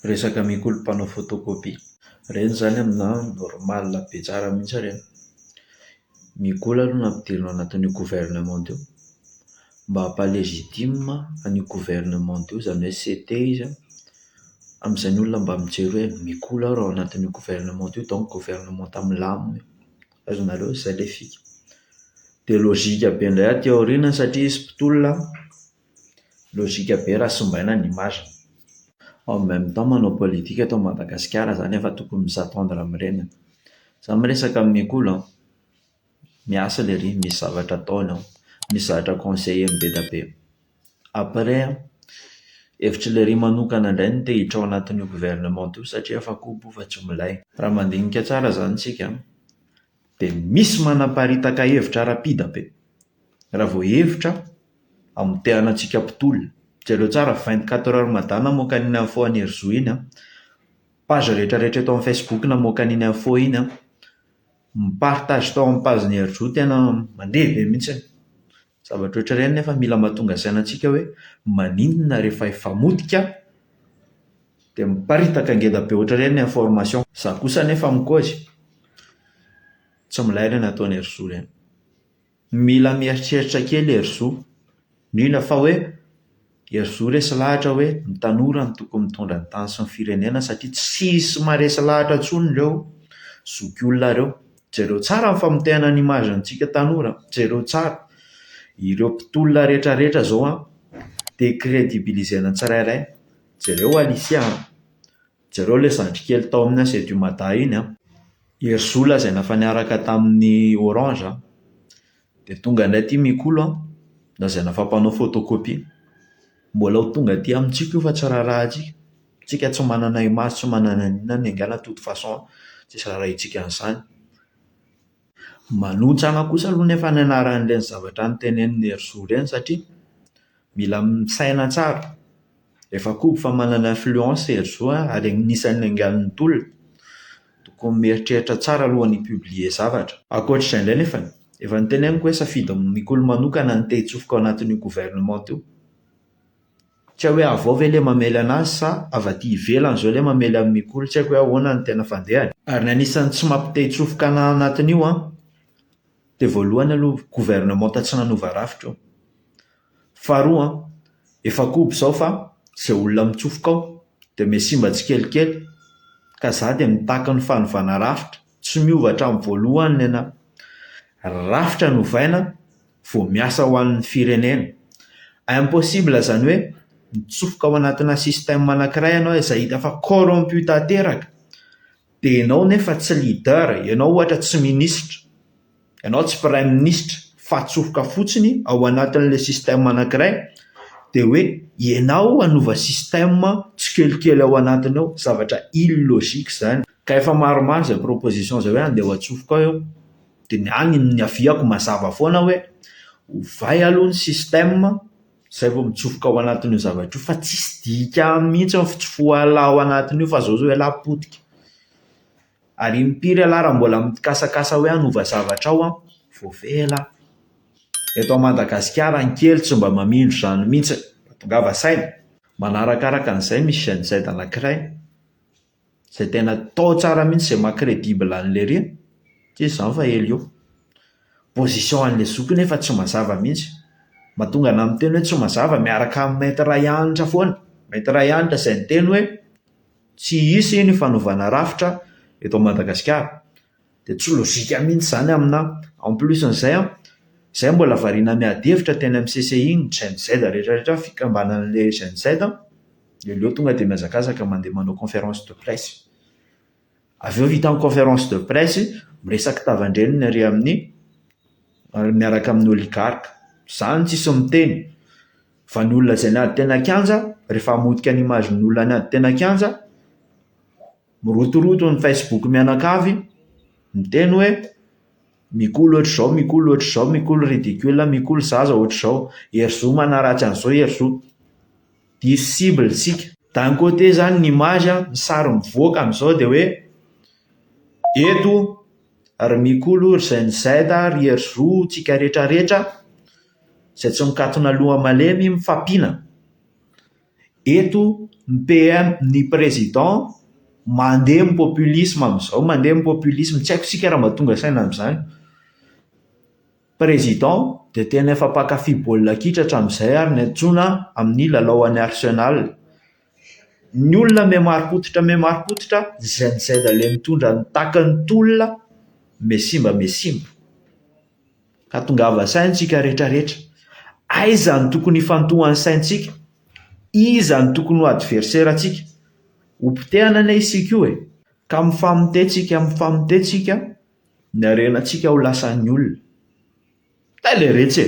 Resaka mikolo mpanao photocopie ireny izany aminà normal be tsara mihitsy ireny. Mikolo aloha no ampidirina ao anatin'io gouvernement io mba hampa legitime an'io gouvernement io izany hoe CT izy an, amin'izay ny olona mba mijery hoe mikolo aho raha ao anatin'io gouvernement io donc gouvernement milamina io. Azonareo? Izay ilay fika. Dia logika be indray aty aoriana satria izy mpitolona an. Logique be raha simbaina ny image-ny. En même temps manao politique eto Madagasikara zany efa tokony mi s'attendre amin'ireny an! Za miresaka amin'i Kolo an! Miasa lery, misy zavatra ataony ao, misy zavatra conseilleny be dia be. Après an! Hevitry lery manokana indray no te hiditra ao anatin'io gouvernement io satria efa kobo fa tsy milay. Raha mandinika tsara zany tsika an! Dia misy manaparitaka hevitra ara-pida be. Raha vao hevitra, amotehana antsika mpitolona. Jereo tsara vingt quatre heures mada namoaka an'iny info an'i Herizo iny an. Page rehetra rehetra eto amin'ny Facebook namoaka an'iny info iny an. Ny partage tao amin'ny page-n'i Herizo tena mandeha be mihitsy. Zavatra ohatra ireny nefa mila mahatonga saina antsika hoe maninona rehefa efa motika dia miparitaka ngeda be ohatra ireny ny information. Za kosa anefa mikozy, tsy milay ireny ataon'i Herizo ireny. Mila mieritreritra kely i Herizo, indrindra fa hoe. Herizo resy lahatra hoe ny tanora no tokony mitondra ny tany sy ny firenena satria tsisy maharesy lahatra intsony ireo zokiolona ireo. Jereo tsara ny famotehana ny image ntsika tanora an! Jereo tsara! Ireo mpitolona rehetra rehetra izao an! Decredibiliser-na ny tsirairay. Jereo Alicia an! Jereo ilay zandry kely tao amin'ny Asia du Mada iny an! Herizo lazaina fa niaraka tamin'ny orange an! Dia tonga indray aty Mikolo an! Lazaina fa mpanao photocopie. Mbola ho tonga aty amintsika io fa tsy raharahantsika. Tsika tsy manana image, tsy manana an'inona na an'inona, enga na toute façon an! Tsisy raharahintsika an'izany. Manontsana kosa aloha anefa ny anaran'ireny zavatra notenenin'i Herizo ireny satria Mila misaina tsara. Efa koby fa manana influence i Herzou an, ary anisan'ny anganon'ny tolona. Tokony mieritreritra tsara aloha ny hi-publier zavatra. Ankoatra izay indray nefany, efa noteneniko hoe safidy mikolo manokana ny te-hitsofoka ao anatin'io gouvernementa io. Tsy hay hoe avy ao ve ilay mamely anazy sa avy aty ivelany izao ilay mamely an'i Mikolo, tsy haiko hoe ahoana ny tena fandehany. Ary ny anisan'ny tsy mampite-hitsofoka anatin'io an, Dia voalohany aloha gouvernementa tsy nanova rafitra io. Faharoa an, efa koby izao fa izay olona mitsofoka ao dia me simba tsikelikely. Ka za dia mitaky ny fanovana rafitra. Tsy miova hatramin'ny voalohany ny anà. Rafitra no ovaina vao miasa ho an'ny firenena. Impossible izany hoe mitsofoka ao anatinà système anankiray ianao izay hita fa corrompu tanteraka. Dia ianao nefa tsy leader, ianao ohatra tsy ministra, ianao tsy praiminisitra fa atsofoka fotsiny ao anatin'ilay système anankiray dia hoe ianao hanova système tsikelikely ao anatiny ao, zavatra illogique izany. Ka efa maromaro izay proposition izay hoe andeha ho atsofoka ao eo, dia ny ahy ny niaviako mazava foana hoe ovay aloha ny système, Zay vao mitsofoka ao anatin'io zavatra io fa tsisy dika aminy mihitsy ny fitsofohan'lah ao anatin'io fa zao zao ialahy potika, ary impiry ialahy raha mbola mitikasakasa hoe hanova zavatra ao an, voavela an! Eto à Madagasikara ny kely tsy mba mamindro izany mihitsy, tongava saina! Manarakaraka an'izay misy génocide anankiray. izay tena tao tsara mihintsy izay maha credible an'ilay iry an! satria izany fa ela eo. Position an'ilay zoky io nefa tsy mazava mihintsy. Mahatonga anà miteny hoe tsy mazava miaraka amin'i Maître Rayanitra foana. Maître Rayanitra izay niteny hoe tsy hisy ny fanovana rafitra eto Madagasikara. Dia tsy logika mihitsy izany aminà. En plus an'izay an, izay mbola variana miady hevitra teny amin'ny CCI ny Gen Z rehetrarehetra, fikambanan'ilay Gen Z an, dia aleo tonga dia mihazakazaka mandeha manao conférence de presse. Avy eo vita ny conférence de presse, miresaka tavan-dreniny ary amin'ny miaraka amin'ny oligarque. Izany tsisy miteny. Fa ny olona izay niady teny an-kianja, rehefa hamotika ny image-n'olona niady teny an-kianja, Mirotoroto ny Facebook mianakavy, miteny hoe, Mikoly ohatr'izao, mikoly ohatr'izao, mikoly ridicule, mikoly zaza ohatr'izao. Hery zo manaratsy an'izao, hery zo. Diso cible isika. D'un côté izany ny image, ny sary mivoaka amin'izao dia hoe, eto ry Mikolo, ry Gen Z, ry hery zo, tsika rehetra rehetra izay tsy mikatona loha malemy mifampiana. eto ny PM ny président mandeha amin'ny populisme amin'izao mandeha amin'ny populisme tsy haiko isika raha mba tonga saina amin'izany président dia tena efa mpankafy baolina kitra hatramin'izay ary ny antsoina amin'ny lalao any arsenal ny olona miha marim-pototra miha marim-pototra izay ny zay daholo mitondra ny takin'ny tolona miha simba miha simba Ka tongava saina isika retraretra. Aiza no tokony hifantohan'ny saintsika? Iza no tokony ho adverserantsika? Ho potehana anie isika io e! Ka mifamotehintsika mifamotehintsika ny harenantsika ho lasan'ny olona. Tay le retsy e!